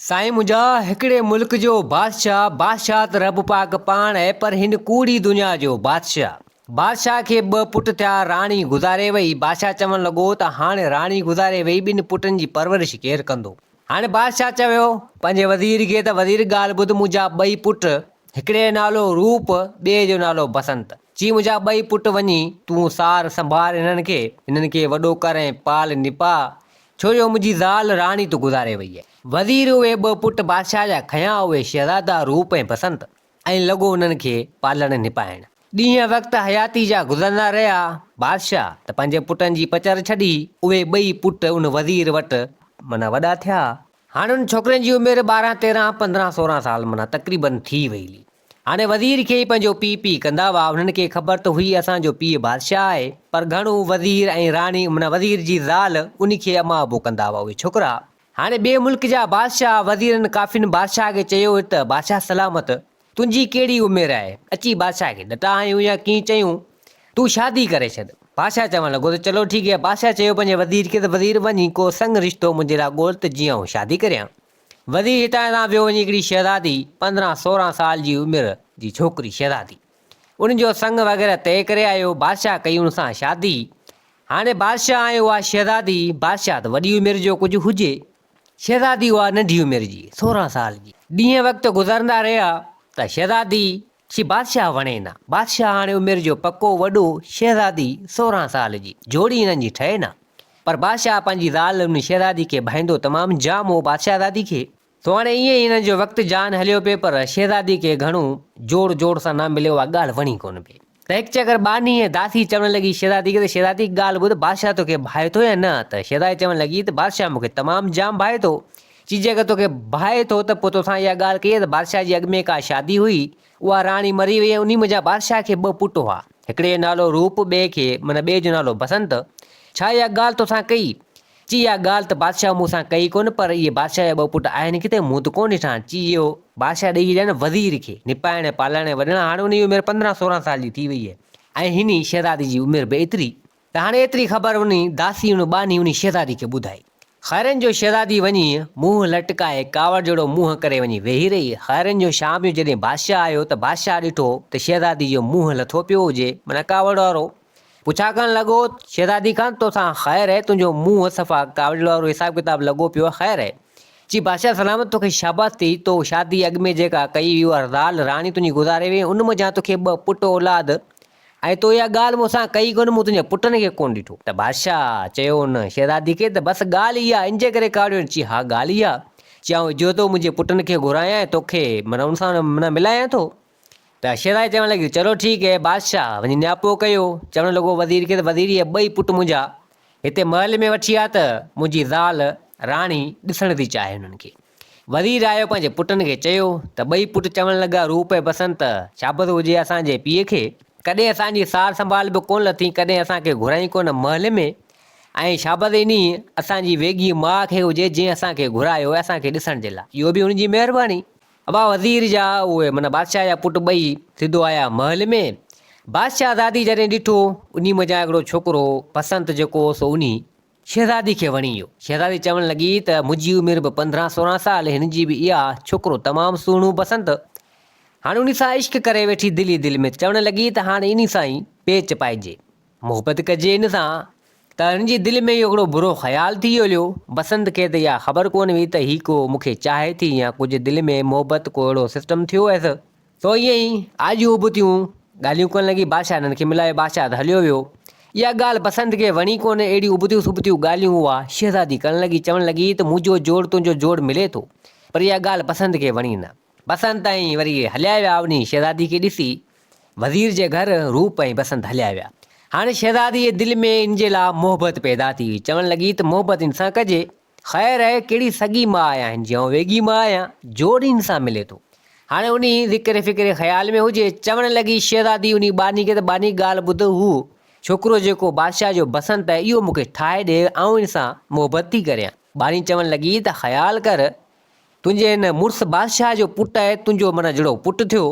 سائين منهنجا هڪڙي ملڪ جو بادشاهه بادشاهه ته رب پاڪ پاڻ اهي پر هن ڪوڙي دنيا جو بادشاهه بادشاهه کي ٻه پٽ ٿيا راڻي گذاري وئي بادشاهه چوڻ لڳو ته هاڻي راڻي گذاري وئي ٻن پٽن جي پرورش ڪير ڪندو هاڻي بادشاهه چويو پنهنجي وزير کي ته وزير ڳالهه ٻڌ منهنجا ٻئي پٽ هڪڙي جو نالو روپ ٻئي جو نالو بسنت چي منهنجا ٻئي پٽ وڃي تون سار سنڀار هنن کي هنن کي وڏو ڪر ۽ پال نپاء ڇو جو منهنجي زال راڻي تو گذاري وئي آهي. وزير اهي ٻه پٽ بادشاهه جا کنيا اهي شهزادا روپ ۽ بسنت ۽ لڳو انهن کي پالڻ نپائڻ. ڏينهن وقت حياتي جا گذرندا رهيا بادشاهه ته پنهنجي پٽن جي پچر ڇڏي اهي ٻئي پٽ ان وزير وٽ معنيٰ وڏا ٿيا. هاڻ ان ڇوڪرين جي عمر ٻارهن تيرهن پندرهن سورهن سال معنيٰ تقريبن ٿي وئي هلي. هاڻي وزير کي ئي پنهنجو پيء پيء ڪندا هئا. انهن کي خبر ته هئي اسان جو پيء بادشاهه آهي، پر گهڻو وزير ۽ راڻي معنيٰ وزير جي زال ان کي اما ابو ڪندا هئا اهي ڇوڪرا. هاڻي ٻئي ملڪ جا بادشاهه وزيرن ڪافين بادشاهه کي چيو هيو ته بادشاهه سلامت تنهنجي ڪهڙي عمر آهي؟ اچي بادشاهه کي ڏٽا هنيون يا ڪيئن چيون تون شادي ڪري ڇڏ. بادشاهه چوڻ لڳو ته چلو ٺيڪ هي. بادشاهه چيو پنهنجي وزير کي ته وزير وڃ هي ڪو سڱ رشتو منهنجي لاء ڳول ته جيئن آئون شادي ڪريان. وزير هتان تان پيو وڃي هڪڙي شهزادي پندرهن سورهن سال جي عمر جي ڇوڪري شهزادي ان جو سڱ وغيره طئي ڪري آيو بادشاهه ڪئي ان سان شادي هاڻي بادشاهه ۽ اها شهزادي بادشاهه ته وڏي عمر جو ڪجهه هجي شهزادي اها ننڍي عمر جي سورهن سال جي ڏينهن وقت گذرندا رهيا ته شهزادي چي بادشاهه وڻي نه. بادشاهه هاڻي عمر جو پڪو وڏو شهزادي سورهن سال جي جوڙي هنن جي ٺهي نه. پر بادشاهه پنهنجي زال ان شهزادي کي ڀائيندو تمام جام هو بادشاهزادي کي. سو هاڻي ائين ئي هنن جو وقت جان هليو پئي پر شهزادي کي گهڻو جوڙ جوڙ سان نه مليو اها ڳالهه وڻي ڪونه پئي ته هڪ چڪر ٻانهي ۽ داسي چوڻ لڳي شهزادي کي ته شهزادي هڪ ڳالهه ٻڌ بادشاهه توکي ڀائي ٿو يا نه ته شهزادي چوڻ لڳي ته بادشاهه مونکي تمام جام ڀائي ٿو چي جيڪر توکي ڀائي ٿو ته پوء توسان اها ڳالهه ڪئي ته بادشاهه جي اڳ ۾ ڪا شادي هئي، اها راڻي مري وئي ۽ انهي منجهان بادشاهه کي ٻه پٽ هئا، هڪڙي جو نالو روپ ٻئي کي معنيٰ ٻئي جو نالو بسنت، ڇا اها ڳالهه توسان ڪئي؟ چي اها ڳالهه ته بادشاهه مون سان ڪئي ڪونه پر اهي بادشاهه جا ٻه پٽ آهن ڪٿي مون ته ڪونه ڏٺا، چي اهو بادشاهه ڏئي ڇڏيائين وزير کي نپائڻ ۽ پالڻ ۽ وڏڻ هاڻ انهي جي عمر پندرهن سورهن سال جي ٿي وئي هئي ۽ هني شهزادي جي عمر به ايتري ته هاڻي ايتري خبر انهي داسي ان ٻانهي انهي شهزادي کي ٻڌائي. خيرن جو شهزادي وڃي منهن لٽڪائي ڪاوڙ جهڙو منهن ڪري وڃي ويهي رهي. خيرن جو شام جو جڏهن بادشاهه آيو ته بادشاهه ڏٺو ته شهزادي جو منهن لٿو پيو هجي معنيٰ ڪاوڙ وارو. پڇا ڪرڻ لڳو شهزادي کان توسان خير اهي تنهنجو منهن صفا ڪاوڙيل وارو حساب ڪتاب لڳو پيو آهي خير اهي. چي بادشاهه سلامت توکي شاباس ٿي تو شادي اڳ ۾ جيڪا ڪئي هئي اها زال راڻي تنهنجي گذاري وئي ان منجهان توکي ٻه پٽ اولاد ۽ تو اها ڳالهه مون سان ڪئي ڪونه، مون تنهنجي پٽن کي ڪونه ڏٺو. ته بادشاهه چيو ان شهزادي کي ته بس ڳالهه اها آهي، ان جي ڪري ڪاوڙيو آهين؟ چي ها ڳالهه اها آهي، چي آئون اجهو ٿو منهنجي پٽن کي گهرايان ۽ توکي معنيٰ ان سان معنيٰ ملايان ٿو. ته شهزادي چوڻ لڳي ته چلو ٺيڪ اهي بادشاهه وڃي نياپو ڪيو، چوڻ لڳو وزير کي ته وزير اهي ٻئي پٽ منهنجا هتي محل ۾ وٺي آ ته منهنجي زال راڻي ڏسڻ ٿي چاهي انهن کي. وزير رايو پنهنجي پٽن کي چيو ته ٻئي پٽ چوڻ لڳا روپ ۽ بسنت ته شابس هجي اسان جي پيء کي، ڪڏهن اسان جي سار سنڀال به ڪونه لٿين ڪڏهن اسان کي گهرائين ڪونه محل ۾ ۽ شابس انهيء اسان جي ويڳيء ماء کي هجي جنهن اسان کي گهرايو آهي اسان کي ڏسڻ جي لاء. اهو به هن جي مهرباني. ابا وزير جا اهي معنيٰ بادشاهه جا پٽ ٻئي سڌو آيا محل ۾، بادشاهزادي جڏهن ڏٺو انهيء منجهان هڪڙو ڇوڪرو بسنت جيڪو هو سو انهيء. شهزادي کي وڻي ويو. شهزادي چوڻ لڳي ته منهنجي عمر به پندرهن سورهن سال هن جي به اها ڇوڪرو تمام سهڻو بسنت هاڻ انهي سان عشق ڪري ويٺي دل ئي دل ۾ چوڻ لڳي ته هاڻ انهي سان ئي پيچ پائجي محبت ڪجي ان سان ته هن جي دل ۾ اهو هڪڙو برو خيال ٿي هليو بسنت کي ته اها خبر ڪونه هئي ته هي ڪو مون کي چاهي ٿي يا ڪجهه دل ۾ محبت ڪو اهڙو سسٽم ٿيو هيس سو ائين ئي آجيون ابتيون ڳالهيون ڪن لڳي بادشاهه هنن کي ملايو بادشاهه ته هليو ويو اها ڳالهه بسنت کي وڻي ڪونه اهڙيون ابتيون سبتيون ڳالهيون اها شهزادي ڪرڻ لڳي چوڻ لڳي ته منهنجو جوڙ تنهنجو جوڙ ملي ٿو پر اها ڳالهه بسنت کي وڻي نه بسنت ائين وري هليا ويا اونهي شهزادي کي ڏسي وزير جي گهر روپ ۽ بسنت هليا ويا هاڻي شهزادي جي دل ۾ ان جي لا محبت پيدا ٿي هئي چوڻ لڳي ته محبت ان سان ڪجي خير هي ڪهڙي سڳي ماء آهن جيئون ويڳي ماء يا جوڙين سان ملي ٿو. هاڻي انهي ذڪر فڪر خيال ۾ هجي، چوڻ لڳي شهزادي انهي ٻانهي کي ته ٻانهي ڳالهه ٻڌ هو ڇوڪرو جيڪو بادشاهه جو بسنت آهي اهو مون کي ٺاهي ڏي آئون ان سان محبت ٿي ڪريان. ٻانهي چوڻ لڳي ته خيال ڪر تنهنجي هن مڙس بادشاهه جو پٽ آهي، تنهنجو منا جهڙو پٽ ٿيو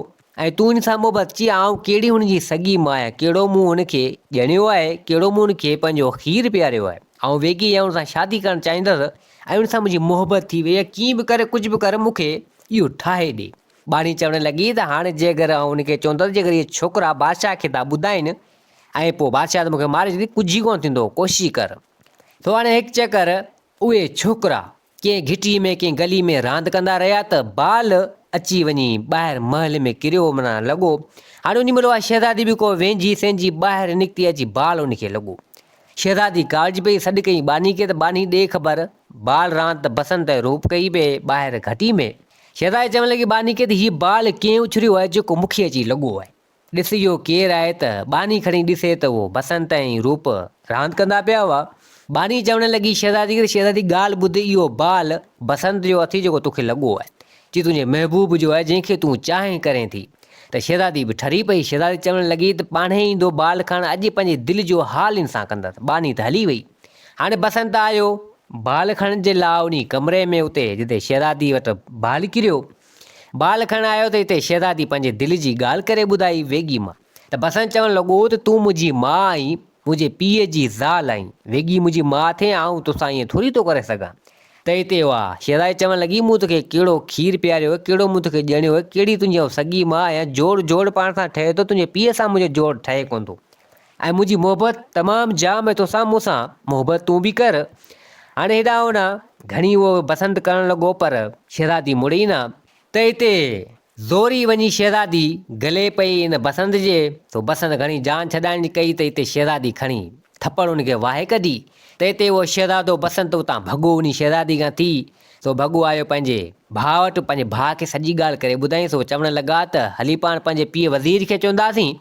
۽ تون هن سان محبت ڪيئي، آئون ڪهڙي هن جي سڳي ماء آهيان، ڪهڙو مون هن کي ڄڻيو آهي، ڪهڙو مون هن کي پنهنجو کير پياريو آهي، آئون ويڳي ئي هن سان شادي ڪرڻ چاهيندس ۽ هن سان منهنجي محبت ٿي وئي آهي، ڪيئن به ڪري ڪجهه به ڪر مون کي اهو ٺاهي ڏي. ٻانهي چوڻ لڳي ته هاڻ جي اگر آئون هن کي چوندس جي اگر اهي ڇوڪرا بادشاهه کي ٿا ٻڌائين ۽ پوء بادشاهه ته مون کي ماري ڇڏي، ڪجهه ئي ڪونه ٿيندو، ڪوشش ڪر. سو هاڻي هڪ چڪر اهي ڇوڪرا ڪنهن گهٽيء ۾ ڪنهن گلي ۾ راند ڪندا رهيا ته بال اچي وڃي ٻاهر محل ۾ ڪريو معنيٰ لڳو. هاڻي انهي مهل اها شهزادي به ڪو وينجهي سينجهي ٻاهر نڪتي اچي بال ان کي لڳو. شهزادي ڪاوڙجي پئي، سڏ ڪيائين ٻانهي کي ته ٻانهي ڏي خبر، بال راند ته بسنت ۽ روپ ڪئي پئي ٻاهر گهٽي ۾. شهزادي چوڻ لڳي ٻانهي کي ته هيء بال ڪنهن اڇليو آهي جيڪو مون کي اچي لڳو آهي. ڏس اهو ڪير آهي ته ٻانهي کڻي ڏسي ته اهو بسنت ۽ روپ راند ڪندا پيا هئا. ٻانهي چوڻ لڳي شهزادي کي ته شهزادي ڳالهه ٻڌ اهو بال بسنت جو اٿئي جيڪو توکي لڳو آهي. جي تنهنجي محبوب جو آهي جنهن کي تون چاهين ڪرين ٿي ته شهزادي به ٺري پئي. شهزادي چوڻ لڳي ته پاڻهي ايندو بال کڻڻ اڄ پنهنجي دل جو حال ان سان ڪندس. ٻانهي ته هلي وئي. هاڻي بسنت آيو. بال کڻڻ جي لاء انهي ڪمري ۾ اتي جتي شهزادي وٽ بال ڪريو بال کڻڻ آيو ته اتي شهزادي پنهنجي دل جي ڳالهه ڪري ٻڌائي ويڳي مان ته بسنت چوڻ لڳو ته تون منهنجي ماء آهين، منهنجي پيء جي زال آهين، ويڳي منهنجي ماء ٿئين آئون توسان ائين ٿوري ٿو ڪري سگهان ته اتي اها شهزادي چوڻ لڳي مون توکي ڪهڙو کير پياريو ڪهڙو مون توکي ڄڻيو ڪهڙي تنهنجي آئون سڳي ماء آهيان جوڙ جوڙ پاڻ سان ٺهي ٿو تنهنجي پيء سان منهنجو جوڙ ٺهي ڪونه ٿو ۽ منهنجي محبت تمام جام ۽ توسان مون سان محبت تون به ڪر هاڻي هيڏانهن هوڏانهن گهڻي اهو بسنت ڪرڻ لڳو پر شهزادي مڙي ئي نه ته هتي زوري وڃي شهزادي گلي پئي ان بسنت جي سو بسنت گهڻي جان ڇڏائڻ جي ڪئي ته هتي شهزادي کڻي ٿپڙ ان کي واهي ڪڍي ته هتي اهو شهزادو بسنت اتان ڀڳو وڃي شهزادي کان ٿي سو ڀڳو آيو پنهنجي ڀاء وٽ پنهنجي ڀاء کي سڄي ڳالهه ڪري ٻڌائين سو چوڻ لڳا ته هلي پاڻ پنهنجي پيء وزير کي چونداسين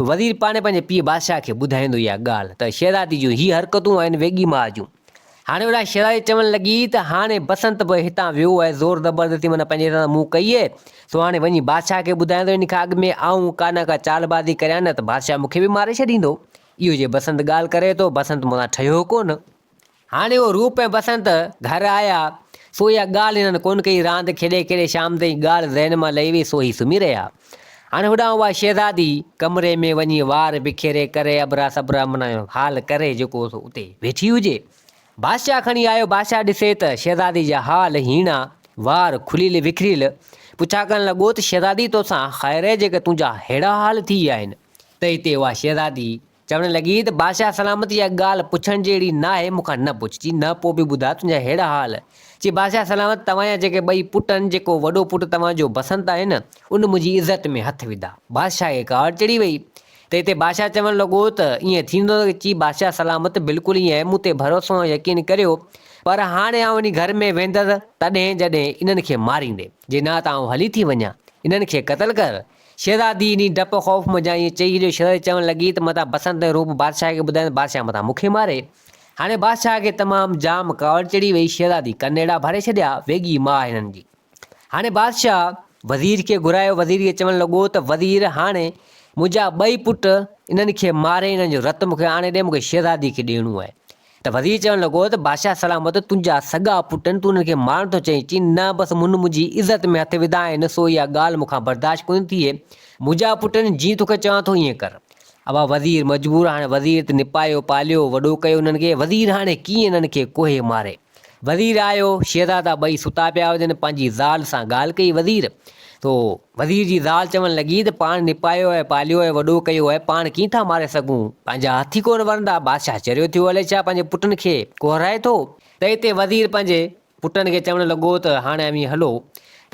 وزير پاڻي پنهنجي پيء بادشاهه کي ٻڌائيندو اها ڳالهه ته شهزادي جون هي حرڪتون آهن ويڳي ماء جون. هاڻي وڏا شهزادي چوڻ لڳي ته هاڻي بسنت به هتان ويو ۽ زور زبردستي من پنهنجي هٿان مون ڪئي اهي سو هاڻي وڃي بادشاهه کي ٻڌايان ته ان کان اڳ ۾ آئون ڪا نه ڪا چالبازي ڪريان نه ته بادشاهه مون کي به ماري ڇڏيندو. اهو جي بسنت ڳالهه ڪري ٿو بسنت مون سان ٺهيو ڪونه. هاڻي هو روپ ۽ بسنت گهر آيا، سو اها ڳالهه هنن ڪونه ڪئي، راند کيڏي کيڏي شام تائين ڳالهه ذهن مان لهي وئي، سو هي سمهي رهيا. هاڻي هوڏانهن اها شهزادي ڪمري ۾ وڃي وار بکيري ڪري ابرا سبرا من حال ڪري جيڪو هو سو اتي ويٺي هجي. بادشاهه کڻي آيو، بادشاهه ڏسي ته شهزادي جا حال هيڻا، وار کليل وکريل، پڇا ڪرڻ لڳو ته شهزادي توسان خير جيڪي تنهنجا ههڙا حال ٿي ويا آهن. ته هتي اها شهزادي چوڻ لڳي ته بادشاهه سلامتي اها ڳالهه پڇڻ جهڙي ناهي، مون کان نه پڇ، چي نه پوء به ٻڌاء تنهنجا ههڙا حال. چي بادشاهه سلامت توهان جا جيڪي ٻئي پٽ آهن، جيڪو وڏو پٽ توهان جو بسنت آهي نه، ان منهنجي عزت ۾ هٿ وڌا. بادشاهه کي ڪاوڙ چڙهي ويئي ته هتي بادشاهه چوڻ لڳو ته ائين ٿيندو نه، چي بادشاهه سلامت بلڪل ائين آهي، مون تي ڀروسو ۽ يقين ڪريو، پر هاڻي آئون انهي گهر ۾ ويندس تڏهن جڏهن انهن کي ماريندين، جي نه ته آئون هلي ٿي وڃان، انهن کي قتل ڪر، شهزادي انهيء ڊپ خوف منجهان ائين چئي ڇڏيو، شهزادي چوڻ لڳي ته متان بسنت ۽ روپ بادشاهه کي ٻڌايائين ته بادشاهه متان مون کي ماري. هاڻي بادشاهه کي تمام جام ڪاوڙ چڙهي وئي، شهزادي ڪن اهڙا ڀري ڇڏيا، ويڳي ماء هنن جي. هاڻي بادشاهه وزير کي گهرايو، وزير کي چوڻ لڳو ته وزير هاڻي منهنجا ٻئي پٽ انهن کي ماري، انهن جو رت مون کي آڻي ڏي، مون کي شهزادي کي ڏيڻو آهي. ته وزير چوڻ لڳو ته بادشاهه سلامت تنهنجا سڳا پٽ آهن، تون انهن کي مارڻ ٿو چاهين؟ چين، نه، بس منهن منهنجي عزت ۾ هٿ وڌا آهن، سو اها ڳالهه مون کان برداشت ڪونه ٿئي. منهنجا پٽ آهن، جيئن توکي چوان ٿو ائين ڪر. اها وزير مجبور هاڻ وزير ته نپايو، پاليو، وڏو ڪيو انهن کي، وزير هاڻي ڪيئن انهن کي ڪوهي ماري. وزير آيو، شهزادا ٻئي ستا پيا هجن، پنهنجي زال سان ڳالهه ڪئي، وزير! تو وزير جي زال چوڻ لڳي ته پاڻ نپايو ۽ پاليو ۽ وڏو ڪيو آهي، پاڻ ڪيئن ٿا ماري سگهون؟ پنهنجا هٿ ئي ڪونه ورندا! بادشاهه چريو ٿيو، الئي ڇا پنهنجي پٽن کي ڪوهرائي ٿو؟ ته اتي وزير پنهنجي پٽن کي چوڻ لڳو ته هاڻي اوهين هلو.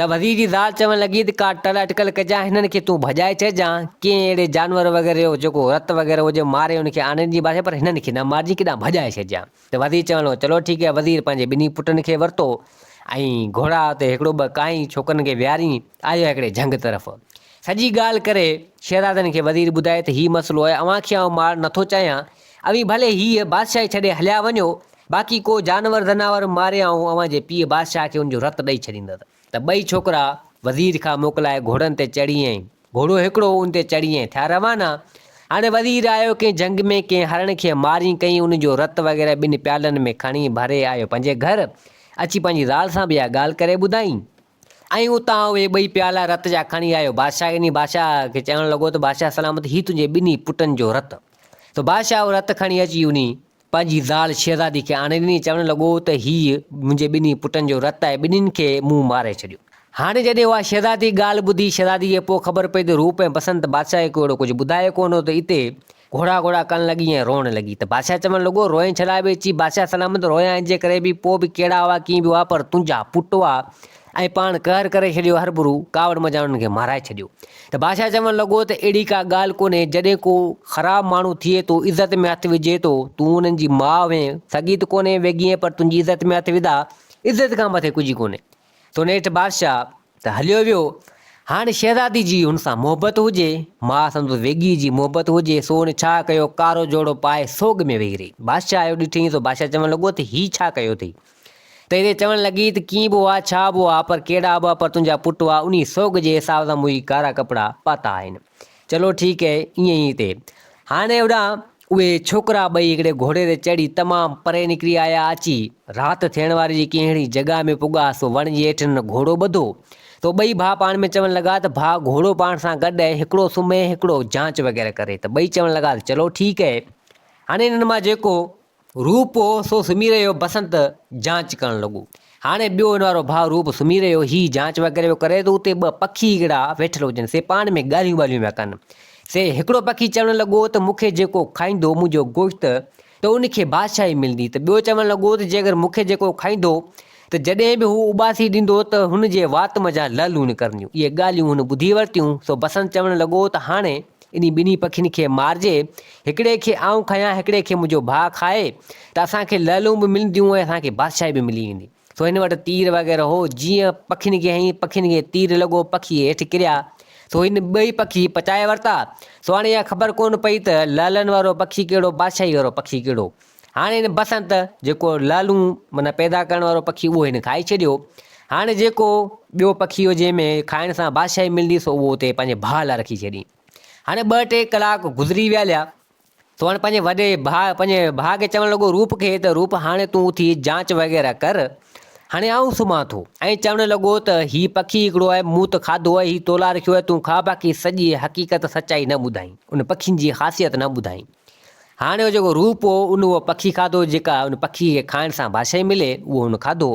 ته وزير جي زال چوڻ لڳي ته ڪا ٽل اٽڪل ڪجان، هنن کي تون ڀڄائي ڇڏجان، ڪنهن اهڙي جانور وغيره جو جيڪو رت وغيره هجي ماري ان کي آنين جي بادشاهه پر هنن کي نه مارجين، ڪيڏانهن ڀڄائي ڇڏجان. ته وزير چيو هلو چلو ٺيڪ هي وزير پنهنجي ٻنهي پٽن کي ورتو ۽ گهوڙا اتي هڪڙو ٻه ڪانئين ڇوڪرن کي ويهارين آيو هڪڙي جهنگ طرف سڄي ڳالهه ڪري شهزادن کي وزير ٻڌائي ته هي مسئلو آهي اوهان کي آئون مار نٿو چاهيان اوهين ڀلي هيء بادشاهي ڇڏي هليا وڃو باقي ڪو جانور ذناور ماري آئون اوهان جي پيء بادشاهه کي ان جو رت ڏئي ڇڏيندس ته ٻئي ڇوڪرا وزير کان موڪلائي گهوڙن تي چڙهي ۽. گهوڙو هڪڙو ان تي چڙهي ۽ ٿيا روانا. هاڻي وزير آيو ڪنهن جهنگ ۾ ڪنهن هرڻ کي مارين ڪئين ان جو رت وغيره ٻن پيالن ۾ کڻي ڀري آيو پنهنجي گهر اچي پنهنجي زال سان به اها ڳالهه ڪري ٻڌائين ۽ اتان اهي ٻئي پيالا رت جا کڻي آيو بادشاهه ڏني بادشاهه کي چوڻ لڳو ته بادشاهه سلامت هي تنهنجي ٻنهي پٽن جو رت سو بادشاهه اهو رت کڻي اچي انهي پنهنجي زال شهزادي کي آڻي ڏني، چوڻ لڳو ته هيء منهنجي ٻنهي پٽن جو رت آهي، ٻنهين کي مون ماري ڇڏيو. هاڻي جڏهن اها شهزادي ڳالهه ٻڌي، شهزاديء کي پوء خبر پئي ته روپ ۽ بسنت بادشاهه کي اهڙو ڪجهه ٻڌايو ڪونه هو ته اتي گهوڙا گهوڙا ڪرڻ لڳي ۽ روئڻ لڳي ته بادشاهه چوڻ لڳو، روئين ڇڏاء ٻيچي! بادشاهه سلامت رويان انجي ڪري به پوء به ڪهڙا هئا ڪيئن به هئا پر تنهنجا پٽ هئا ۽ پاڻ قهر ڪري ڇڏيو هربرو ڪاوڙ منجهان انهن کي مارائي ڇڏيو ته بادشاهه چوڻ لڳو ته اهڙي ڪا ڳالهه ڪونهي جڏهن ڪو خراب ماڻهو ٿئي ٿو عزت ۾ هٿ وجهي ٿو تون انهن جي ماء هئين سڳي ته ڪونهين ويڳيء پر تنهنجي عزت ۾ هٿ وڌا عزت کان مٿي ڪجهه ڪونهي تو نيٺ بادشاهه ته هليو ويو هاڻي شهزادي جي هن سان محبت هجي ماء سندس ويڳيء جي محبت هجي سو هن ڇا ڪيو ڪارو جوڙو پائي سوڳ ۾ ويهي رهي بادشاهه اهو ڏٺئين سو بادشاهه چوڻ لڳو ته هي ڇا ڪيو اٿئي تيري چوڻ لڳي ته ڪيئن به هئا، ڇا به هئا، پر ڪهڙا به پر تنهنجا پٽ هئا، انهي سوڳ جي حساب سان مون هي ڪارا ڪپڙا پاتا آهن. چلو ٺيڪ هي، ائين ئي هتي. هاڻي هوڏانهن اهي ڇوڪرا ٻئي هڪڙي گهوڙي تي چڙهي تمام پري نڪري آيا. اچي رات ٿيڻ واري جي ڪنهن اهڙي جڳهه ۾ پڳا سو وڻ جي هيٺ هنن گهوڙو ٻڌو تو ٻئي ڀاء پاڻ ۾ چوڻ لڳا ته ڀاء گهوڙو پاڻ سان گڏ اهي هڪڙو سمهي هڪڙو جانچ وغيره ڪري ته ٻئي چوڻ لڳا ته چلو ٺيڪ هي هاڻي هنن مان جيڪو روپ هو سو سمهي رهيو بسنت جانچ ڪرڻ لڳو. هاڻي ٻيو هن وارو ڀاء روپ سمهي رهيو هي جانچ وغيره جو ڪري ته اتي ٻه پکي اهڙا ويٺل هجن سي پاڻ ۾ ڳالهيون ٻالهيون ويا ڪن. سي هڪڙو پکي چوڻ لڳو ته مون کي جيڪو کائيندو منهنجو گوشت ته ان کي بادشاهي ملندي ته ٻيو چوڻ لڳو ته جي اگر مون کي جيڪو کائيندو ته جڏهن به هو اٻاسي ڏيندو ته هن جي وات منجهان لعل لوڻ ڪرنديون اهي ڳالهيون هن ٻڌي ورتيون سو بسنت چوڻ لڳو ته هاڻي انهي ٻنهي پکين کي مارجي، هڪڙي کي آئون کايان، هڪڙي کي منهنجو ڀاء کائي ته اسان کي لعلون به ملنديون ۽ اسان کي بادشاهي به ملي ويندي. سو هن وٽ تير وغيره هو، جيئن پکين کي هنئين پکين کي تير لڳو، پکي هيٺ ڪريا، سو هن ٻئي پکي پچائي ورتا، سو هاڻي اها خبر ڪونه پئي ته لعلن وارو پکي ڪهڙو، بادشاهي وارو پکي ڪهڙو. هاڻي هن بسنت جيڪو لالون معنيٰ پيدا ڪرڻ وارو پکي اهو هن کائي ڇڏيو هاڻي جيڪو ٻيو پکي هو جنهن ۾ کائڻ سان بادشاهي ملندي سو اهو اتي پنهنجي ڀاء لاء رکي ڇڏي هاڻي ٻه ٽي ڪلاڪ گذري ويا ليا سو هاڻي پنهنجي وڏي ڀاء پنهنجي ڀاء کي چوڻ لڳو روپ کي ته روپ هاڻي تون اٿي جانچ وغيره ڪر هاڻي آئون سمهان ٿو ۽ چوڻ لڳو ته هي پکي هڪڙو آهي مون ته کاڌو آهي هي تو لاء رکيو آهي تون کاء باقي سڄي حقيقت سچائي نه ٻڌائين ان پکين جي خاصيت نه ٻڌائين هاڻي اهو جيڪو روپ هو، ان اهو پکي کاڌو، جيڪا ان پکي کي کائڻ سان باشائي ملي، اهو هن کاڌو.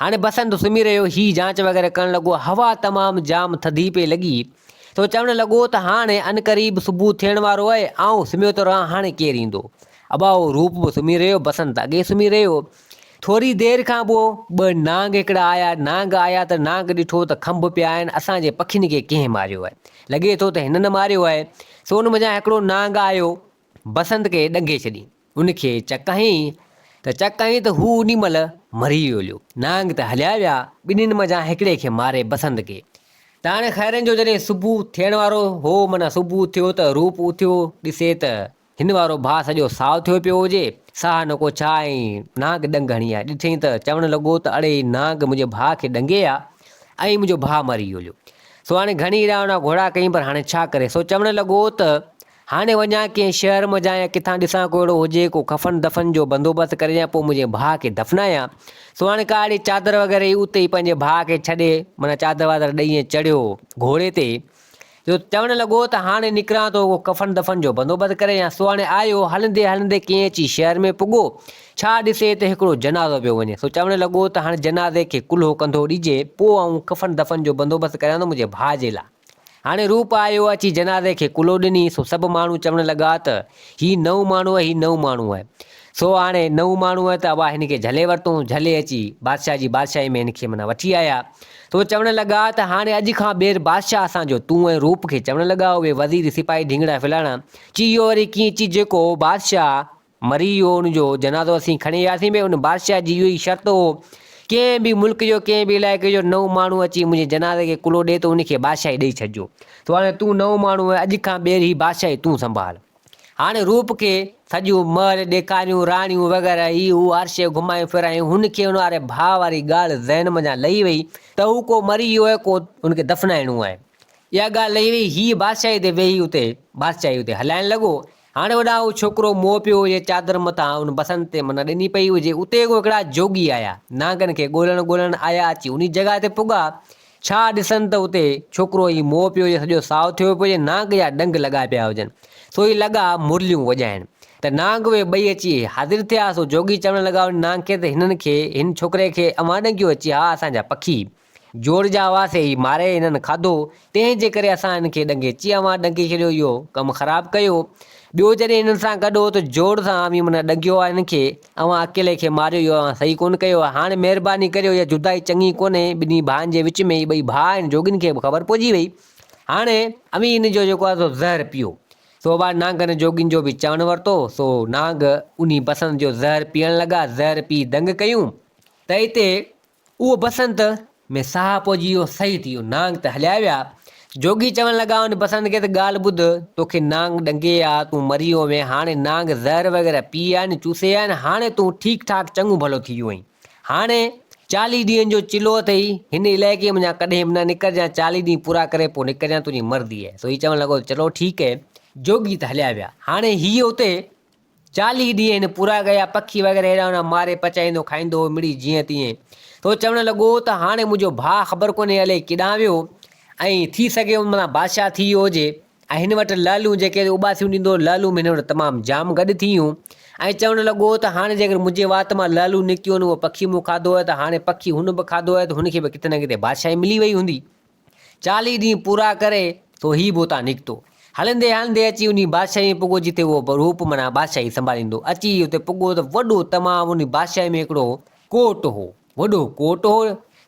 هاڻي بسنت سمهي رهيو. هي جانچ وغيره ڪرڻ لڳو. هوا تمام جام ٿڌي پئي لڳي. سو چوڻ لڳو ته هاڻي عنقريب صبح ٿيڻ وارو آهي. آئون سمهيو ٿو رهان، هاڻي ڪير ايندو؟ اٻاهو روپ به سمهي رهيو، بسنت اڳي سمهي رهيو. ٿوري دير کان پوء ٻه نانگ هڪڙا آيا. نانگ آيا ته نانگ ڏٺو ته کنڀ پيا آهن، اسان جي پکين کي ڪنهن ماريو آهي؟ لڳي ٿو ته هنن ماريو آهي. سو ان منجهان هڪڙو نانگ آيو، بسنت کي ڏنگي ڇڏيئين. ان کي چڪ هنئين ته چڪ هنئين ته هو انهي مهل مري ويو هليو. نانگ ته هليا ويا، ٻنهين منجهان هڪڙي کي ماري بسنت کي. ته هاڻي خيرن جو جڏهن صبح ٿيڻ وارو هو، معنيٰ صبح ٿيو ته روپ اٿيو، ڏسي ته هن وارو ڀاء سڄو سائو ٿيو پيو هجي، ساهه نڪو ڇا ائين نانگ ڏنگ هڻي آ، ڏٺئين ته چوڻ لڳو ته اڙي هي نانگ منهنجي ڀاء کي ڏنگي آ ۽ منهنجو ڀاء مري هليو، سو هاڻي گهڻي اڙاونا گهوڙا ڪيئين پر هاڻي ڇا ڪري، سو چوڻ لڳو ته هاڻي وڃان ڪنهن شهر منجهان يا ڪٿان ڏسان ڪو اهڙو هجي ڪو ڪفن دفن جو بندوبست ڪري ڏيان پوء منهنجي ڀاء کي دفنايان، سو هاڻي ڪا اهڙي چادر وغيره هئي اتي ئي پنهنجي ڀاء کي ڇڏي معنيٰ چادر وادر ڏئي ۽ چڙهيو گهوڙي تي جو چوڻ لڳو ته هاڻي نڪران ٿو ڪو ڪفن دفن جو بندوبست ڪري يا سهاڻي آيو هلندي هلندي ڪئين اچي شهر ۾ پڳو ڇا ڏسي ته هڪڙو جنازو پيو وڃي سو چوڻ لڳو ته هاڻي جنازي کي ڪلهو ڪنڌو ڏجي پوء آئون ڪفن دفن جو بندوبست ڪريان ٿو منهنجي ڀاء جي لاء هاڻي روپ آيو اچي جنازي کي ڪلهو ڏني سو سڀ ماڻهو چوڻ لڳا ته هي نئون ماڻهو آهي هي نئون ماڻهو آهي سو هاڻي نه هو ماڻهو هئا ته اوهان هن کي جهلي ورتئون، جهلي اچي بادشاهه جي بادشاهي ۾ هن کي منا وٺي آيا. سو چوڻ لڳا ته هاڻي اڄ کان ٻيهر بادشاهه اسان جو تون ۽ روپ کي چوڻ لڳا اهي وزير، سپاهي ڍينگڙا ڦلاڻا چي اهو وري ڪيئن چي جيڪو بادشاهه مري ويو ان جو جنازو اسين کڻي وياسين ڀي ان بادشاهه جي اهو ئي شرط هو ڪنهن به ملڪ جو ڪنهن به علائقي جو نئون ماڻهو اچي منهنجي جنازي کي ڪلهو ڏئي ته ان کي بادشاهي ڏئي ڇڏجو سو هاڻي تون نئون ماڻهو آهين اڄ کان ٻيهر هي بادشاهي تون سنڀال. هاڻي روپ کي سڄيون محل ڏيکاريون، راڻيون وغيره هي هو عرشي گهمايون ڦرايون، هن کي هن واري ڀاء واري ڳالهه ذهن منجهان لهي وئي ته هو ڪو مري ويو آهي ڪو هن کي دفنائڻو آهي. اها ڳالهه لهي وئي هي بادشاهي تي ويهي اتي بادشاهي اتي هلائڻ لڳو. هاڻي هوڏانهن هو ڇوڪرو موهه پيو هجي چادر مٿان ان بسنت تي منهن ڏني پئي هجي اتي ڪو هڪڙا جوڳي آيا نانگن کي ڳولڻ ڳولڻ آيا اچي انهي جڳهه تي پڳا ڇا ڏسن ته اتي ڇوڪرو ئي موء پيو هجي، سڄو سائو ٿيو پيو هجي، نانگ جا ڏنگ لڳا پيا هجن، سو هي لڳا مرليون وڄائڻ. ته نانگ اهي ٻئي اچي حاضر ٿيا، سو جوڳي چوڻ لڳا ان نانگ کي ته هنن کي، هن ڇوڪري کي، اوهان ڏنگيو اچي ها، اسان جا پکي جوڙ جا هئا، سي هي ماري هنن کاڌو، تنهن جي ڪري اسان هن کي ڏنگي اچي اوهان ڏنگي ڇڏيو، اهو ڪم خراب ڪيو. ٻيو جڏهن هنن سان گڏ هو ته جوڙ سان اوهين منا ڏنگيو ها هن کي، اوهان اڪيلي کي ماريو اهو اوهان صحيح ڪونه ڪيو آهي. هاڻي مهرباني ڪريو اها جدائي چڱي ڪونهي. ٻنهي ڀائن جي وچ ۾ هي ٻئي ڀاء آهن. جوڳين کي به خبر پئجي وئي. هاڻي. اوهين ان جو جيڪو آهي سو زهر پيئو. سو اها نانگن جوڳين جو به چوڻ ورتو. سو نانگ انهي بسنت جو زهر پيئڻ لڳا. زهر پي دنگ ڪيون ته اتي اهو بسنت ۾ ساهه پوجي ويو، صحيح ٿي ويو، نانگ ته هليا ويا. جوڳي چوڻ لڳا، ان بسنت کي ته ڳالهه ٻڌ، توکي نانگ ڏنگي آ، تون مري ويو هئين، هاڻي نانگ زهر وغيره پي آ ۽ چوسي آ ۽ هاڻي تون ٺيڪ ٺاڪ چڱو ڀلو ٿي ويو آهين. هاڻي چاليهه ڏينهن جو چلو اٿئي، هن علائقي منجهان ڪڏهن به نه نڪرجانء، چاليهه ڏينهن پورا ڪري پوء نڪرجانء، تنهنجي مرضي آهي. سو هي چوڻ لڳو ته چلو ٺيڪ آهي. جوڳي ته هليا ويا، هاڻي هيء اتي چاليهه ڏينهن پورا ڪيا، پکي وغيره هيڏانهن هوڏانهن ماري پچائيندو کائيندو هو، مڙئي جيئن تيئن ٿو چوڻ لڳو ته هاڻي منهنجو ڀاء خبر ڪونهي الئي ڪيڏانهن ويو ۽ ٿي سگهي ان مٿان بادشاهه ٿي ويو هجي ۽ هن وٽ لعلون جيڪي اباسيون ڏيندو هو لعلون به هن وٽ تمام جام گڏ ٿيون ۽ چوڻ لڳو ته هاڻي جيڪر منهنجي وات مان لعلون نڪتيون آهن اهو پکي مون کاڌو آهي ته هاڻي پکي هن به کاڌو آهي ته هن کي به ڪٿي نه ڪٿي بادشاهي ملي وئي هوندي چاليهه ڏينهن پورا ڪري سو هي به اتان نڪتو. هلندي هلندي اچي انهي بادشاهي ۾ پڳو جتي اهو روپ معنيٰ بادشاهي سنڀاليندو. اچي هي اتي پڳو ته وڏو تمام انهي بادشاهي ۾ هڪڙو ڪوٽ هو. وڏو ڪوٽ هو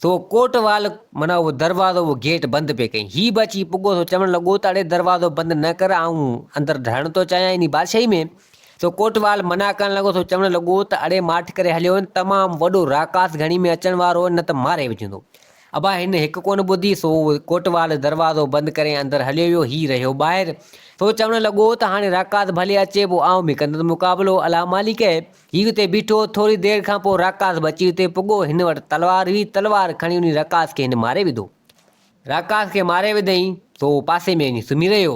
سو ڪوٽ وال معنيٰ اهو دروازو اهو گيٽ بند پئي ڪئين. هي به اچي پڳو سو چوڻ لڳو ته اڙي دروازو بند نه ڪر آئون اندر رهڻ ٿو چاهيان انهي بادشاهي ۾. سو ڪوٽ وال منع ڪرڻ لڳو سو چوڻ لڳو ته اڙي ماٺ ڪري هليو وڃ تمام وڏو راڪاس گهڻي ۾ اچڻ وارو هو نه ته ماري وجهندو. ابا هن هڪ ڪونه ٻڌي، سو ڪوٽوال دروازو بند ڪري اندر هليو ويو. هي رهيو ٻاهر. سو چوڻ لڳو ته هاڻي راڪاس ڀلي اچي، پوء آئون به ڪندس مقابلو. الا مالڪ! هي اتي بيٺو. ٿوري دير کان پوء راڪاس به اچي اتي پڳو. هن وٽ تلوار هئي. تلوار کڻي انهي راڪاس کي هن ماري وڌو. راڪاس کي ماري وڌئين، سو پاسي ۾ وڃي سمهي رهيو.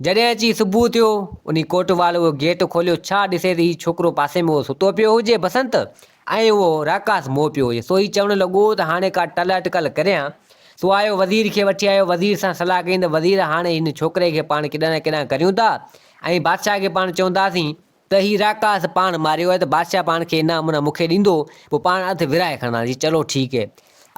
جڏهن اچي صبح ٿيو، انهي ڪوٽوال اهو گيٽ کوليو. ڇا ڏسيس هي ڇوڪرو پاسي ۾ اهو ستو پيو هجي. بسنت! ائين اهو راڪاس مئو پيو هجي. سو هي چوڻ لڳو ته هاڻي ڪا ٽل اٽڪل ڪريان. سو آيو وزير کي وٺي آيو. وزير سان صلاح ڪيائين ته وزير هاڻي هن ڇوڪري کي پاڻ ڪيڏانهن نه ڪيڏانهن ڪريون ٿا ۽ بادشاهه کي پاڻ چونداسين ته هي راڪاس پاڻ ماريو آهي ته بادشاهه پاڻ کي انعام منا مون کي ڏيندو پوء پاڻ اڌ ورهائي کڻنداسين. چلو ٺيڪ.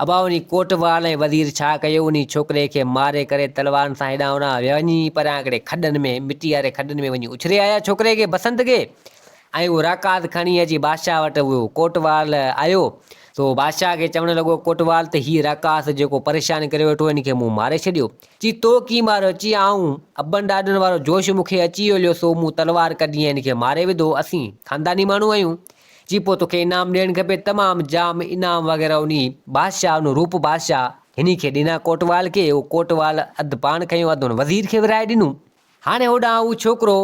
ابا انهي ڪوٽوال ۽ وزير ڇا ڪيو انهي ڇوڪري کي ماري ڪري تلوارن سان هيڏانهن هوڏانهن ويا وڃي پريان هڪڙي کڏن ۾ مٽي واري کڏن ۾ وڃي اڇلي آيا ڇوڪري کي بسنت کي ۽ اهو راڪات کڻي اچي بادشاهه وٽ ويو ڪوٽوال آيو سو بادشاهه کي چوڻ لڳو ڪوٽوال ته هي راڪاس جيڪو پريشان ڪري ويٺو هن کي مون ماري ڇڏيو چي تو ڪي ماريو چي آئون ابن ڏاڏن وارو جوش مون کي اچي ويو سو مون تلوار ڪڍي ۽ هن کي ماري وڌو اسين خانداني ماڻهو آهيون چي پوء توکي انعام ڏيڻ کپي تمام جام انعام وغيره انهي بادشاهه انهو روپ بادشاهه هني کي ڏنا ڪوٽوال کي اهو ڪوٽوال اڌ پاڻ کنيو اڌ ان وزير کي ورهائي ڏنو. هاڻي هوڏانهن اهو ڇوڪرو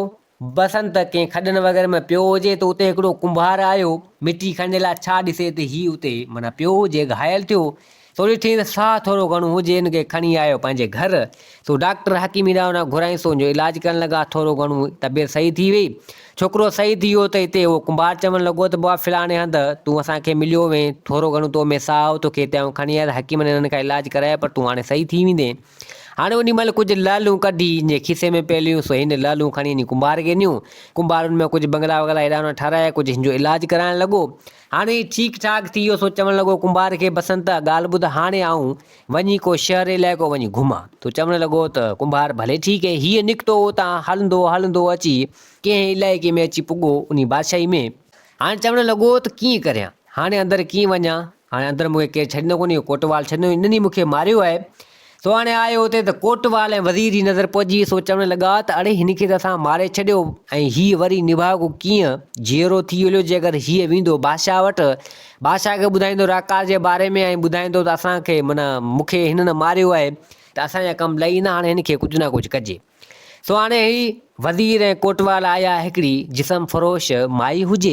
بسنت ڪنهن کڏن وغيره ۾ پيو هجي ته اتي هڪڙو ڪنڀار آيو مٽي کڻڻ جي لاء ڇا ڏسي ته هي اتي معنيٰ پيو هجي گهايل ٿيو ٿوري ٿي ته ساهه ٿورو گهڻو هجي، هن کي کڻي آيو پنهنجي گهر. سو ڊاڪٽر حڪيمي ڏانهن هن گهرائين سو هن جو علاج ڪرڻ لڳا. ٿورو گهڻو طبيعت صحيح ٿي ويئي. ڇوڪرو صحيح ٿي ويو ته هتي اهو ڪنڀار چوڻ لڳو ته بابا فلاڻي هنڌ تون اسان کي مليو هئين، ٿورو گهڻو تو ۾ ساهه هو، توکي هتي آئون کڻي آيس، حڪيمن هنن کان علاج ڪرايو پر تون هاڻي صحيح ٿي ويندين. هاڻي انهي مهل ڪجهه لعلون ڪڍي هن جي کيسي ۾ پئي لهيون سو هن لعلون کڻي هني ڪنڀار کي ڏنيون. ڪنڀار ان ۾ ڪجهه بنگلا وغلا هيڏانهن هوڏانهن ٺارايا، ڪجهه هن جو علاج ڪرائڻ لڳو. هاڻي هي ٺيڪ ٺاڪ ٿي ويو، سو چوڻ لڳو ڪنڀار کي، بسنت، ڳالهه ٻڌ، هاڻي آئون وڃي ڪو شهر علائقو وڃي گهمان. سو چوڻ لڳو ته ڪنڀار ڀلي ٺيڪ هي. هيء نڪتو اتان هلندو هلندو اچي ڪنهن علائقي ۾ اچي پڳو، انهي بادشاهي ۾. هاڻي چوڻ لڳو ته ڪيئن ڪريان، هاڻي اندر ڪيئن وڃان، هاڻي اندر مون کي ڪير ڇڏيندو ڪونهي، اهو ڪوٽوال ڇڏيندو، انهن ئي مون کي ماريو آهي، سهاڻي آيو اتي ته ڪوٽوال ۽ وزير جي نظر پئجي ويس. هو چوڻ لڳا ته اڙي هن کي ته اسان ماري ڇڏيو ۽ هيء وري نڀاڳو ڪيئن جيئرو ٿي هليو جي اگر هيء ويندو بادشاهه وٽ، بادشاهه کي ٻڌائيندو راڪاس جي باري ۾ ۽ ٻڌائيندو ته اسان کي معنيٰ مون کي هنن ماريو آهي ته اسان جا ڪم لهي ويندا هاڻي هن کي ڪجهه نه ڪجهه ڪجي. سو هاڻي هي وزير ۽ ڪوٽوال آيا هڪڙي جسم فروش مائي هجي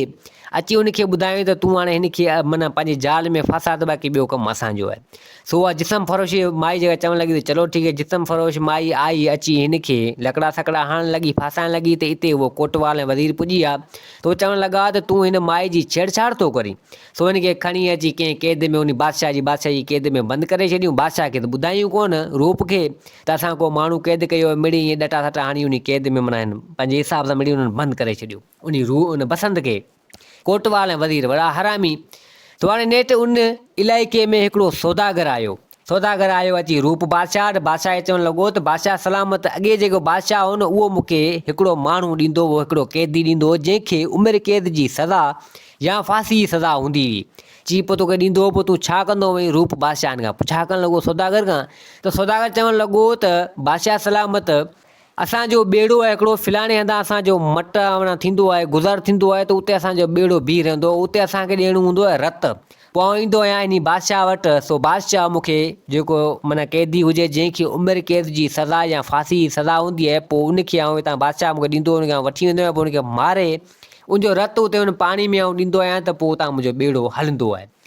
اچي ان کي ٻڌايائين ته تون هاڻي هن کي معنيٰ پنهنجي جال ۾ ڦاساء ته باقي ٻيو ڪم اسان جو آهي سو اها جسم فروش مائي جيڪا چوڻ لڳي ته چلو ٺيڪ آهي جسم فروش مائي آئي اچي هن کي لڪڙا سڪڙا هڻڻ لڳي ڦاسائڻ لڳي ته اتي اهو ڪوٽوال ۽ وزير پڄي ويا ته اهو چوڻ لڳا ته تون هن مائي جي ڇيڙڇاڙ ٿو ڪرين سو هن کي کڻي اچي ڪنهن قيد ۾ انهي بادشاهه جي بادشاهي جي قيد ۾ بند ڪري ڇڏيون. بادشاهه کي ته ٻڌايون ڪونه روپ کي ته اسان ڪو ماڻهو قيد ڪيو آهي. مڙئي ائين ڏٽا سٽا هڻي انهي قيد ۾ معنيٰ هن پنهنجي حساب سان مڙئي انهن بند ڪري ڇڏيو. انهي روح ان بسنت کي ڪوٽوال ۽ وزير وڙا حرامي! سڀاڻي نيٺ ان علائقي ۾ هڪڙو سوداگر آيو سوداگر آيو اچي روپ بادشاهه وٽ، بادشاهه کي چوڻ لڳو ته بادشاهه سلامت ته اڳي جيڪو بادشاهه هو نه اهو مون کي هڪڙو ماڻهو ڏيندو هو، هڪڙو قيدي ڏيندو هو، جنهن کي عمر قيد جي سزا يا ڦاسي جي سزا هوندي هئي. چي پوء توکي ڏيندو هو، پوء تون ڇا ڪندو هئين؟ روپ بادشاهن کان پڇا ڪرڻ لڳو سوداگر کان ته سوداگر چوڻ لڳو ته بادشاهه سلامت اسان جو ٻيڙو آهي هڪڙو، فلاڻي هنڌان اسان جو مٽ آوڻ ٿيندو آهي، گذر ٿيندو آهي ته اتي اسان جو ٻيڙو بيهي رهندو آهي، اتي اسان کي ڏيڻو هوندو آهي رت. پوء آئون ايندو آهيان انهي بادشاهه وٽ، سو بادشاهه مون کي جيڪو معنيٰ قيدي هجي جنهن کي عمر قيد جي سزا يا ڦاسي جي سزا هوندي آهي، پوء ان کي آئون هتان بادشاهه مون کي ڏيندو آهي ان کي آئون وٺي ويندو آهيان پوء ان کي ماري ان جو رت اتي ان پاڻي ۾ آئون ڏيندو آهيان ته پوء اتان منهنجو ٻيڙو هلندو آهي.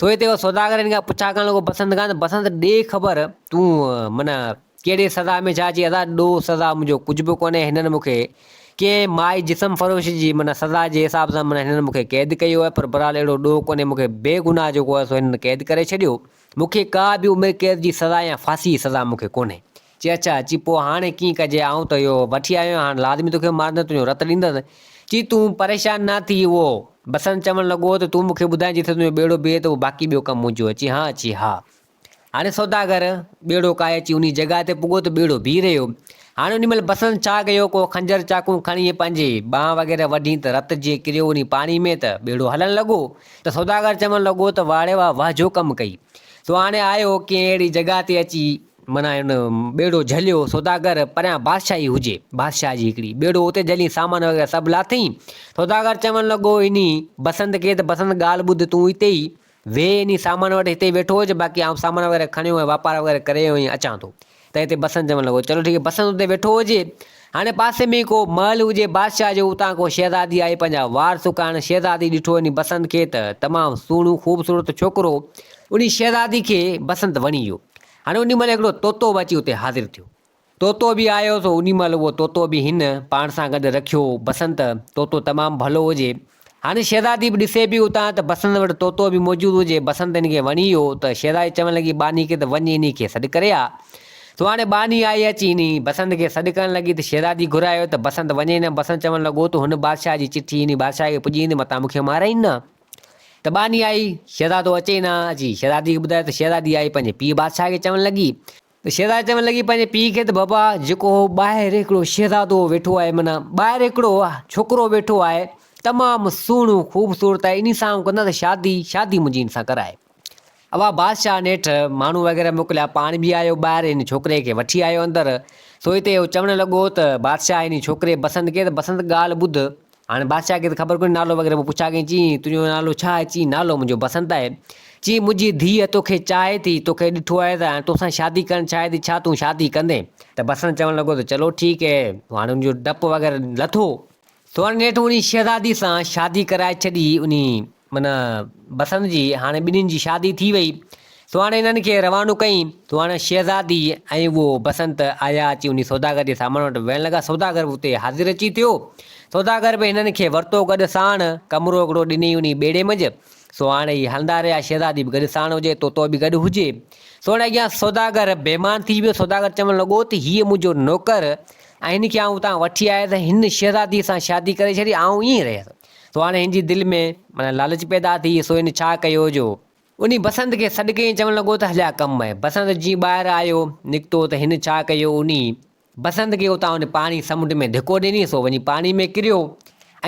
سو هتي اهو سوداگر هن کان پڇا ڪرڻ لڳو بسنت کان ته بسنت ڏي خبر تون معنيٰ ڪهڙي سزا ۾ ڇا چي ادا ڏو سزا منهنجو ڪجهه به ڪونهي هنن مون کي ڪنهن مائي جسم فروش جي معنيٰ سزا جي حساب سان معنيٰ هنن مون کي قيد ڪيو آهي پر بهرحال اهڙو ڏوهه ڪونهي مون کي بي گناهه جيڪو آهي سو هنن قيد ڪري ڇڏيو مون کي ڪا به عمر قيد جي سزا يا ڦاسي جي سزا مون کي ڪونهي چي اڇا چي پوء هاڻي ڪيئن ڪجي آئون ته اهو وٺي آيو آهيان هاڻ لازمي توکي مارندس تنهنجو رت ڏيندس چي تون پريشان نه ٿي اهو بسنت چوڻ لڳو ته تون مونکي ٻڌائين جتي تنهنجو ٻيڙو بيهي ته اهو باقي ٻيو ڪم منهنجو آهي چي ها چي ها هاڻي سوداگر ٻيڙو ڪاهي اچي انهي جڳهه تي پڳو ته ٻيڙو بيهي رهيو هاڻي انهي مهل بسنت ڇا ڪيو ڪو خنجر چاقون کڻي پنهنجي ٻانهن وغيره وڍين ته رت جيئن ڪريو انهي پاڻي ۾ ته ٻيڙو هلڻ لڳو ته سوداگر چوڻ لڳو ته واڙي واه واه جو ڪم ڪئي تو هاڻي آيو ڪنهن اهڙي جڳهه تي اچي منهن ان ٻيڙو جهليو، سوداگر پريان بادشاهي هجي، بادشاهه جي هڪڙي ٻيڙو اتي جهلين سامان وغيره سڀ لاٿيئين. سوداگر چوڻ لڳو، انهي بسنت کي ته بسنت ڳالهه ٻڌ تون اتي ئي ويهه انهي سامان وٽ هتي ئي ويٺو هج باقي آئون سامان وغيره کڻيو ۽ واپار وغيره ڪري ۽ اچان ٿو ته هتي بسنت چوڻ لڳو، چلو ٺيڪ آهي بسنت اتي ويٺو هجي. هاڻي پاسي ۾ ئي ڪو محل هجي بادشاهه جو، اتان ڪو شهزادي آئي پنهنجا وار سڪائڻ، شهزادي ڏٺو انهي بسنت کي ته تمام سهڻو خوبصورت ڇوڪرو انهي شهزادي کي بسنت وڻي ويو. هاڻي انهي مهل هڪڙو طوطو به اچي اتي حاضر ٿيو. طوطو به آيو سو انهي مهل اهو طوطو به هن پاڻ سان گڏ رکيو، بسنت طوطو تمام ڀلو هجي هاڻي شهزادي به ڏسي پئي اتان ته بسنت وٽ طوطو به موجود هو، جي بسنت ان کي وڻي ويو ته شهزادي چوڻ لڳي ٻانهي کي ته وڃ انهي کي سڏ ڪري آ. سو هاڻي ٻانهي آئي اچي انهي بسنت کي سڏ ڪرڻ لڳي ته شهزادي گهرايو ته بسنت وڃي نه بسنت چوڻ لڳو ته هن بادشاهه جي چٺي انهي بادشاهه کي پڄي ويندي متان مون کي مارائين نه ته ٻانهي آئي شهزادو اچي نه اچي شهزادي کي ٻڌايو ته شهزادي آئي پنهنجي پيء بادشاهه کي چوڻ لڳي ته شهزادي چوڻ لڳي پنهنجي پيء کي ته بابا جيڪو ٻاهر هڪڙو شهزادو ويٺو آهي معنيٰ ٻاهر هڪڙو ڇوڪرو ويٺو آهي تمام سهڻو خوبصورت آهي انهي سان آئون ڪندس شادي شادي منهنجي ان سان ڪرائي اها بادشاهه نيٺ ماڻهو وغيره موڪليا پاڻ به آيو ٻاهر ان ڇوڪري کي وٺي آيو اندر سو هتي اهو چوڻ لڳو ته بادشاهه انهي ڇوڪري بسنت کي ته بسنت ڳالهه ٻڌ هاڻي بادشاهه کي ته خبر ڪونهي نالو وغيره، پوء پڇا ڪيائين، چيائين، تنهنجو نالو ڇا آهي؟ چيائين، نالو منهنجو بسنت آهي. چيائين، منهنجي ڌيء توکي چاهي ٿي، توکي ڏٺو آهي ته هاڻي توسان شادي ڪرڻ چاهي ٿي، ڇا تون شادي ڪندين؟ ته بسنت چوڻ لڳو ته چلو ٺيڪ هي، هاڻي ان جو ڊپ وغيره لٿو، سو هاڻي نيٺ انهي شهزادي سان شادي ڪرائي ڇڏي، انهي من بسنت جي هاڻي ٻنهين جي شادي ٿي وئي. سو هاڻي انهن کي روانو ڪيائين. سو هاڻي شهزادي ۽ اهو بسنت آيا اچي انهي سوداگر جي سامان وٽ ويهڻ لڳا. سوداگر به اتي حاضر اچي ٿيو. سوداگر به هنن کي ورتو گڏ ساڻ. ڪمرو هڪڙو ڏنئين انهي ٻيڙي منجھ. سو هاڻي هي هلندا رهيا. شهزادي به گڏ ساڻ هجي، طوطو به گڏ هجي. سو هاڻي اڳيان سوداگر بيمان ٿي ويو. سوداگر چوڻ لڳو ته هيء منهنجو نوڪر ۽ هن کي آئون اتان وٺي آيس. هن شهزاديء سان شادي ڪري ڇڏي. آئون ائين ئي رهيس. سو هاڻي هن جي دل ۾ معنيٰ لالچ پيدا ٿي، سو هن ڇا ڪيو جو انهي بسنت کي سڏ ڪيائين چوڻ لڳو ته هليا ڪم آهي. بسنت جيئن ٻاهر آيو، نڪتو ته هن ڇا ڪيو انهي بسنت کي اتان ان پاڻي سمنڊ ۾ ڌڪو ڏني سو وڃي پاڻي ۾ ڪريو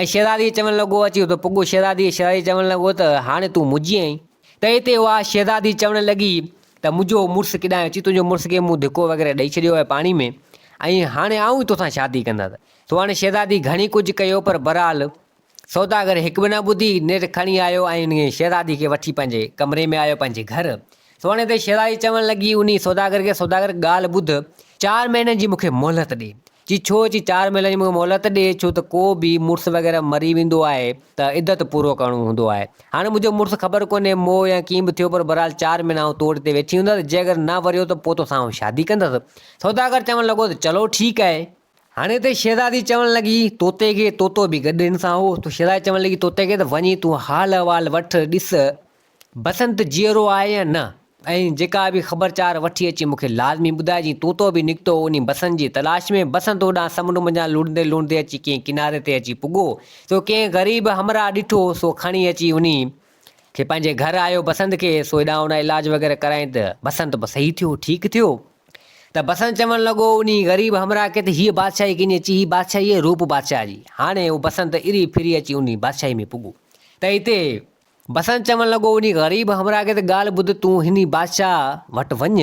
۽ شهزاديء چوڻ لڳو اچي اتي پڳو شهزاديء شهزاديء چوڻ لڳو ته هاڻي تون منهنجي آهين. تنهن تي اها شهزادي چوڻ لڳي ته منهنجو مڙس ڪيڏانهن اچي تنهنجو مڙس کي مون ڌڪو وغيره ڏئي ڇڏيو آهي پاڻي ۾ ۽ هاڻي آئون ئي توسان شادي ڪندس. تو هاڻي شهزادي گهڻي ڪجهه ڪيو پر بهرحال سوداگر هڪ به نه ٻڌي نيٺ کڻي آيو ۽ انهيء شهزادي کي وٺي پنهنجي ڪمري ۾ آيو پنهنجي گهر تو هاڻي ته شهزادي چوڻ لڳي انهيء سوداگر کي سوداگر ڳالهه ٻڌ چار مهينن جي مون کي مهلت ڏي چي ڇو چي چار مهينن جي مون کي مهلت ڏي ڇو ته ڪو به مڙس وغيره مري ويندو آهي ته عدت پورو ڪرڻو هوندو آهي هاڻي منهنجو مڙس خبر ڪونهي مئو يا ڪيئن به ٿيو پر بهرحال چار مهينا آئون توڙ تي ويٺي هوندس جي اگر نه وريو ته پوء توسان آئون شادي ڪندس سوداگر چوڻ لڳو ته چلو ٺيڪ آهي هاڻي ته شهزادي چوڻ لڳي، طوطي کي، طوطو به گڏ هن سان هو، ته شهزادي چوڻ لڳي طوطي کي ته وڃي تون حال احوال وٺ، ڏس بسنت جيئرو آهي يا نه، ۽ جيڪا به خبر چار وٺي اچين مون کي لازمي ٻڌائجين، طوطو به نڪتو انهي بسنت جي تلاش ۾، بسنت هوڏانهن سمنڊ منجهان لڙندي لڙندي اچي ڪنهن ڪناري تي اچي پڳو، سو ڪنهن غريب همراهه ڏٺو، سو کڻي اچي انهي کي پنهنجي گهر آيو، بسنت کي سو هيڏانهن هوڏانهن علاج وغيره ڪرايائين ته بسنت به صحيح ٿيو، ٺيڪ ٿيو. ته بسنت چوڻ لڳو، انهي غريب همراهه کي ته هيء بادشاهي ڪيني اچي، هي بادشاهي ئي روپ بادشاهه جي. هاڻي هو بسنت اري ڦري اچي انهي بادشاهي ۾ پڳو ته هتي بسنت چوڻ لڳو، انهي غريب همراهه کي ته ڳالهه ٻڌ تون هني بادشاهه وٽ وڃ.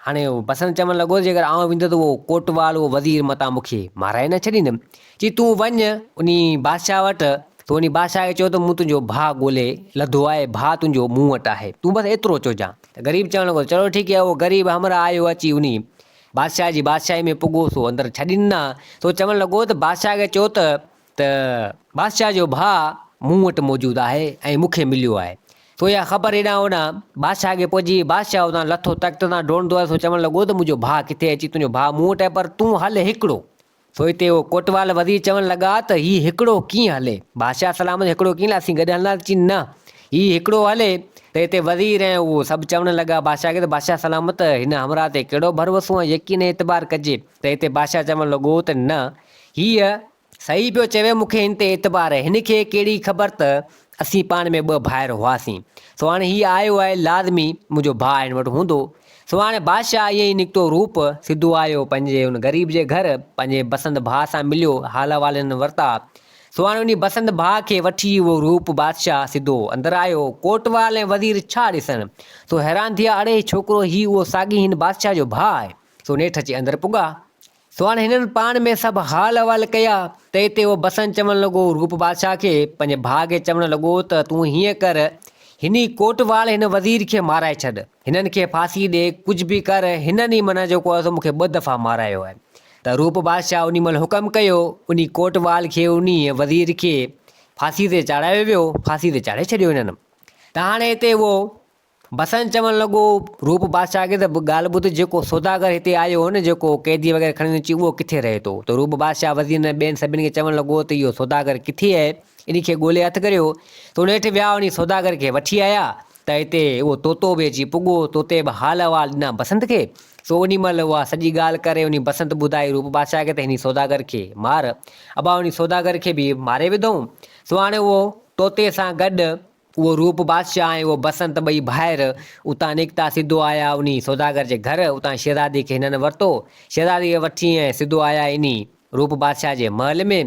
هاڻي هو بسنت چوڻ لڳو، جيڪر آئون ويندس ته اهو ڪوٽوال، اهو وزير متان مون کي مارائي نه ڇڏيندي. چي تون وڃ انهي بادشاهه وٽ، تون انهي بادشاهه کي چئو ته مون تنهنجو ڀاء ڳولي لڌو آهي، ڀاء تنهنجو مون وٽ آهي، تون بس ايترو چئجان. ته غريب چوڻ لڳو ته چلو ٺيڪ هي، اهو غريب همراهه آيو اچي انهي بادشاهه جي بادشاهي ۾ پڳو، سو اندر ڇڏي ڏنا. سو چوڻ لڳو ته بادشاهه کي چئو ته ته بادشاهه جو ڀاء مون وٽ موجود آهي ۽ مون کي مليو آهي. سو اها خبر هيڏانهن هوڏانهن بادشاهه کي پهچي، بادشاهه اتان لٿو تخت تان ڊوڙندو آيو، سو چوڻ لڳو ته منهنجو ڀاء ڪٿي اچي تنهنجو ڀاء مون وٽ آهي، پر تون هل هڪڙو سو اتي اهو ڪوٽوال وزير چوڻ لڳا ته هي هڪڙو ڪيئن هلي؟ بادشاهه سلامت چيو هڪڙو ڪيئن هلي؟ اسين گڏ هلنداسين. چين نه هي هڪڙو هلي ته اتي وزير ۽ اهو سڀ چوڻ لڳا بادشاهه کي ته بادشاهه سلامت هن همراهه تي ڪهڙو ڀروسو ۽ يقين ۽ اعتبار ڪجي ته اتي بادشاهه چوڻ لڳو ته نه هيء صحيح پيو چوي مون کي هن تي اعتبار آهي هن کي ڪهڙي خبر ته اسين پاڻ ۾ ٻه ڀائر هئاسين سو هاڻي هي آيو آهي لازمي منهنجو ڀاء هن وٽ هوندو سو هاڻي بادشاهه ائين ئي نڪتو روپ سڌو آيو پنهنجي ان غريب جي گهر پنهنجي بسنت ڀاء سان مليو حال احوالن ورتا سو هاڻي انهي بسنت ڀاء کي وٺي اهو روپ بادشاهه سڌو اندر آيو ڪوٽوال ۽ وزير ڇا ڏسن سو حيران ٿيا اڙي ڇوڪرو هي اهو ساڳي هن بادشاهه جو ڀاء آهي سو نيٺ اچي اندر پڳا. سو هاڻي هنن پاڻ ۾ سڀ حال احوال ڪيا ته اتي اهو بسن چوڻ لڳو روپ بادشاهه کي پنهنجي ڀاء کي چوڻ لڳو ته تون هيئن ڪر هني ڪوٽواڙ هن وزير کي مارائي ڇڏ هنن کي ڦاسي ڏي ڪجهه به ڪر هنن ئي معنيٰ جيڪو آهي سو مون کي ٻه دفعا مارايو آهي ته روپ بادشاهه انهي مهل حڪم ڪيو انهي ڪوٽواڙ کي انهي وزير کي ڦاسي تي چاڙهايو ويو ڦاسي تي چاڙهي ڇڏيو هنن ته هاڻي اتي اهو بسنت چوڻ لڳو، روپ بادشاهه کي ته ڳالهه ٻڌ، جيڪو سوداگر هتي آيو هو نه، جيڪو قيدي وغيره کڻي اچي، اهو ڪٿي رهي ٿو؟ ته روپ بادشاهه وزيرن ۽ ٻين سڀن کي چوڻ لڳو ته اهو سوداگر ڪٿي اهي؟ انهي کي ڳولي هٿ ڪريو. ته نيٺ ويا انهي سوداگر کي وٺي آيا ته هتي اهو طوطو به اچي پڳو. طوطي به حال احوال ڏنا بسنت کي. سو انهي مهل اها سڄي ڳالهه ڪري انهي بسنت ٻڌائي روپ بادشاهه کي ته هني سوداگر کي مار. ابا انهي سوداگر کي به ماري وڌئون. سو هاڻي اهو طوطي سان گڏ اهو روپ بادشاهه ۽ اهو بسنت ٻئي ڀائر اتان نڪتا سڌو آيا انهي سوداگر جي گهر، اتان شهزادي کي هنن ورتو، شهزادي کي وٺي ۽ سڌو آيا انهي روپ بادشاهه جي محل ۾،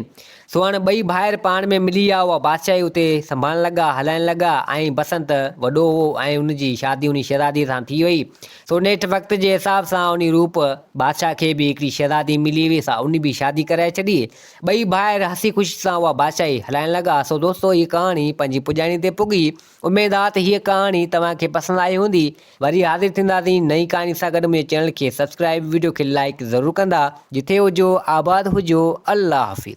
سو هاڻ ٻئي ڀائر پاڻ ۾ ملي يا اها بادشاهي اتي سنڀالڻ لڳا، هلائڻ لڳا ۽ بسنت وڏو هئو ۽ ان جي شادي انهي شهزادي سان ٿي وئي، سو نيٺ وقت جي حساب سان انهي روپ بادشاهه کي به هڪڙي شهزادي ملي هئي سا انهي به شادي ڪرائي ڇڏي، ٻئي ڀائر هسي خوشي سان اها بادشاهي هلائڻ لڳا. سو دوستو هيء ڪهاڻي پنهنجي پڄاڻي تي پڳي. اميد آ ته هيء ڪهاڻي توهان کي پسند آئي هوندي. وري حاضر ٿينداسين نئين ڪهاڻي سان گڏ منهنجي چينل کي سبسڪرائيب وڊيو کي لائيڪ ضرور ڪندا. جٿي هجو آباد هجو الله حافظ.